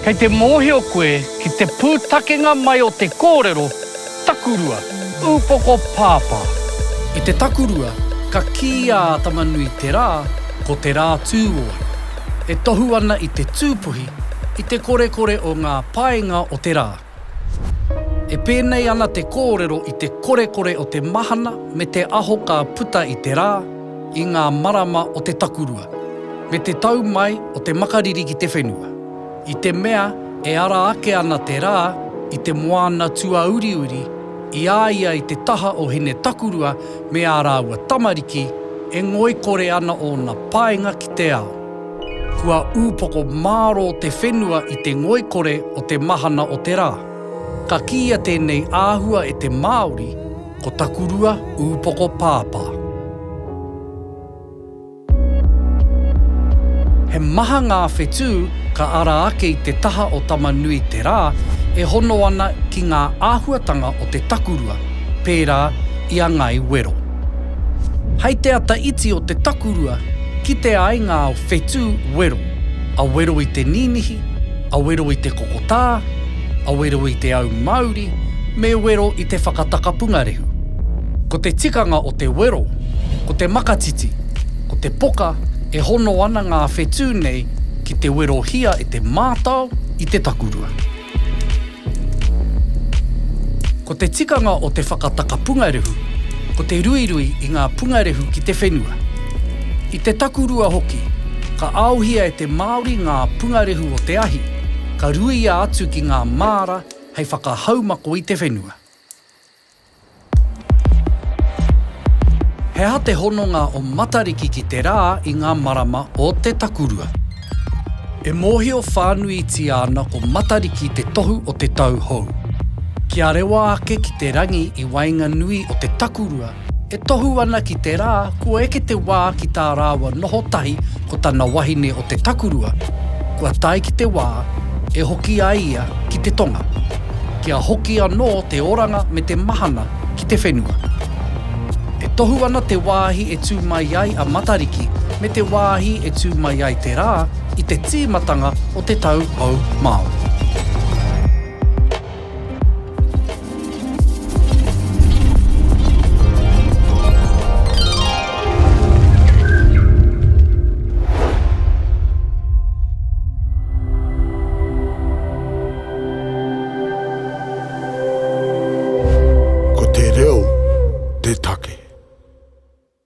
Kei te mōhio koe ki te pūtakenga mai o te kōrero takurua, upoko pāpā. I te takurua, ka kī a Atamanui te rā, ko te rā tū ōi. E tohu ana i te tūpuhi, i te korekore o ngā paenga o te rā. E pēnei ana te kōrero i te korekore o te mahana me te aho ka puta i te rā, i ngā marama o te takurua, me te tau mai o te makariri ki te whenua. I te mea e ara ake ana te rā i te moana tuauriuri, i a ia i te taha o Hinetakurua me ā rāua tamariki, e ngoikore ana ōna painga ki te ao. Kua ūpoko mārō te whenua i te ngoikore o te mahana o te rā. Ka kīia tēnei āhua e te Māori, ko Takurua ūpoko pāpā. He maha ngā whetū ka ara ake i te taha o Tama-nui-te-rā e hono ana ki ngā āhuatanga o te takurua, pērā i a Ngai Wero. Hei te ata iti o te takurua, kite ai ngā whetū wero, a wero i te ninihi, a wero i te kokotā, a wero i te au mauri, me wero i te whakatakapunga rehu. Ko te tikanga o te wero, ko te makatiti, ko te poka e hono ana ngā whetū nei ki te werohia e te mātao i te takurua. Ko te tikanga o te whakataka pungarehu, ko te ruirui i ngā pungarehu ki te whenua. I te takurua hoki, ka aohia e te Māori ngā pungarehu o te ahi, ka ruia atu ki ngā māra hei whakahaumako i te whenua. He aha te hononga o Matariki ki te rā i ngā marama o te takurua? E mōhio whānuitia ana ko Matariki te tohu o te tau hou. Kia rewa ake ki te rangi i waenganui o te takurua e tohu ana ki te rā kua eke te wā ki tā rāua noho tahi ko tana wahine o te takurua, kua tae ki te wā e hoki ai ia ki te tonga. Kia hoki anō te oranga me te mahana ki te whenua. E tohu ana te wāhi e tū mai ai a Matariki me te wāhi e tū mai ai te rā i te tīmatanga o te tau hou Māori. Ko te reo te take.